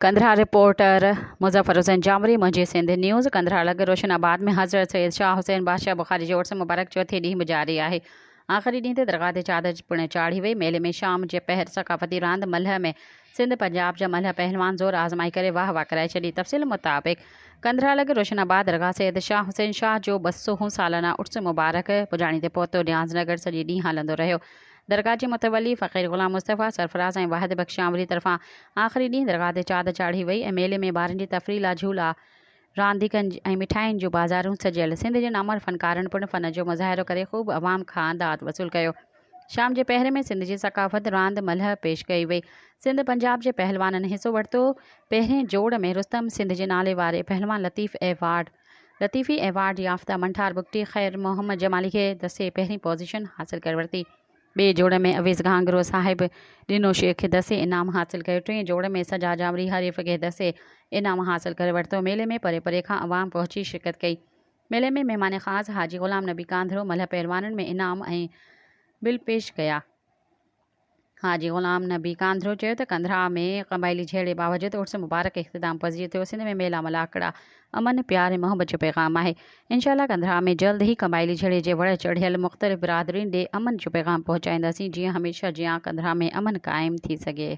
Kandahar, reporter, Muzaffar Hussain Jamri, منهنجي Sindh news, Kandhar لڳ روشن آباد ۾ حضرت سيد شاهه حسين بادشاهه بخاري جي عرس مبارڪ چوٿين ڏينهن به جاري آهي. آخري ڏينهن تي درگاهه تي چادر پڻ چاڙهي وئي. ميلي ۾ شام جي پهر ثقافتي راند ملهه ۾ سنڌ پنجاب جا ملهه پهلوان زور آزمائي ڪري واه واه ڪرائي ڇڏي. تفصيل مطابق قندھار لڳ روشن آباد درگاهه سيد شاهه حسين شاهه جو ٻه سو هون سالانه عرس مبارڪ پڄاڻي تي پهتو نياز نگر سڄي ڏينهن هلندو رهيو. درگاهه جي متولي فقير غلام مصطفيٰ سرفراز ۽ واحد بخش آمري طرفان آخري ڏينهن درگاهه تي چادر چاڙهي وئي ۽ ميلي ۾ ٻارن جي تفريح لا جهولا، رانديڪن ۽ مٺاين جون بازارون سجيل. سنڌ جن امر فنڪارن پڻ فن جو مظاهرو ڪري خوب عوام کان داد وصول ڪيو. شام جي پهر ۾ سنڌ جي ثقافت راند ملهه پيش ڪئي وئي. سنڌ پنجاب جي پهلوانن حصو ورتو. پهرين جوڙ ۾ رستم سنڌ جي نالي واري پهلوان لطيف ايوارڊ. لطيفي ايوارڊ يافته منٺار بگٽي خير محمد جمالي کي دسي پهرين پوزيشن حاصل ڪري ورتي. ٻئي جوڙ ۾ اويس گهانگرو صاحب ڏنو شيخ کي دسي انعام حاصل ڪيو. ٽئين جوڙ ۾ سجا جاوڙي حريف کي دسي انعام حاصل ڪري ورتو. ميلي ۾ پري پري کان عوام پهچي شرڪت ڪئي. ميلي ۾ مهمان خاص حاجي غلام نبي ڪانڌرو ملهه پهلوانن ۾ انعام ۽ بل پيش ڪيا. حاجي غلام نبي ڪانڌرو چيو ته ڪنڌراء ۾ قبائلي جهيڙي باوجود عرس مبارڪ اختتام پذير ٿيو، سنڌ ۾ ميلا ملاکڙا امن، پيار ۽ محبت جو پيغام آهي، انشاء الله ڪنڌراء ۾ جلد ئي قبائلي جهيڙي جي وڙهه چڙهيل مختلف برادرين ڏي امن جو پيغام پهچائينداسين جيئن هميشه جيان ڪنڌراء ۾ امن قائم ٿي سگهي.